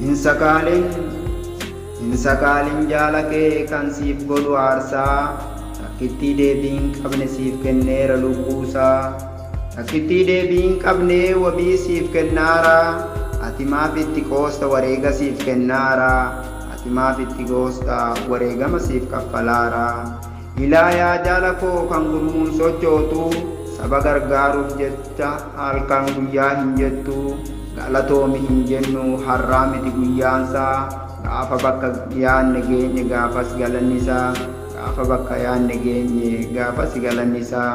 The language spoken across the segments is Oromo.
Hin sakaalin Hin sakaalin jaala kee kan siif godhu aarsaa Takkittii deebii hin qabne siif kenneera lubbuusaa Takkittii deebii hin qabne wabii siif kennaara Ati maaf itti qoosta wareega siif kennaara Ati maaf itti qoosta wareegama siif kaffalaara Ilaa yaa jaala koo kan gurmuun sochootu saba gargaaruuf jecha halkan guyyaa hin jettu galatoomi hin jennu har'aa miti guyyaansaa gaafa bakka yaanne geenye gaafas galannisaa gaafa bakka yaanne geenye gaafas galannisaa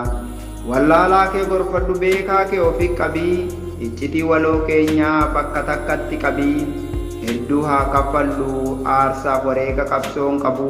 wallaalaa kee gorfadhu beekaa kee ofi qabii iccitii waloo keenyaa bakka takkatti qabii hedduu haa kaffallu aarsaaf wareega qabsoon qabu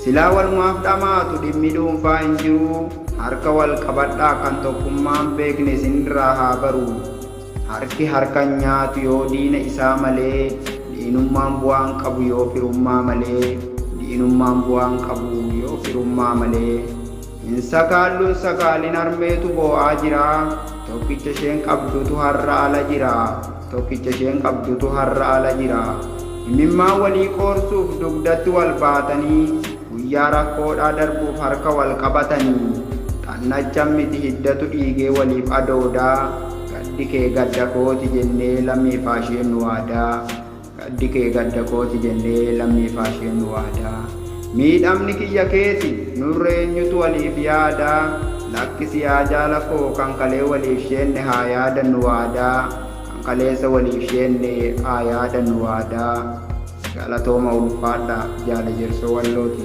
Silaa walumaaf dhamaatu dhimmi dhuunfaa hin jiruu harka wal qabadhaa kan tokkummaa hin beekne isin irraa haa baru. Harki harka hin nyaatu yoo diina isaa malee diinummaan bu'aa hin qabu yoo firummaa malee diinummaan bu'aa hin qabu yoo firummaa malee. Hin sakaallu hin sakaalin harmeetu boo'aa jira Tokkicha isheen qabdutu har'a ala jira Tokkicha isheen qabdutu har'a ala jira Imimmaan walii qoorsuuf dugdatti wal baatanii Guyyaa rakkoodhaa darbuuf harka wal qabatanii Xannachan miti hiddatu dhiigee waliif adoodaa Gaddi kee gadda kooti jennee lammiifaasheennu waadaa Gaddi kee gadda kooti jennee lammii faashee nu waada Miidhamni kiyya keeti nurra eenyutu waliif yaada Lakkisi yaa jaala koo kan kalee waliif sheenne haa yaadannu waada Kan kaleessa waliif sheenne haa yaadannu waada Galatooma ulfaadha jaala Jersoo Wallooti.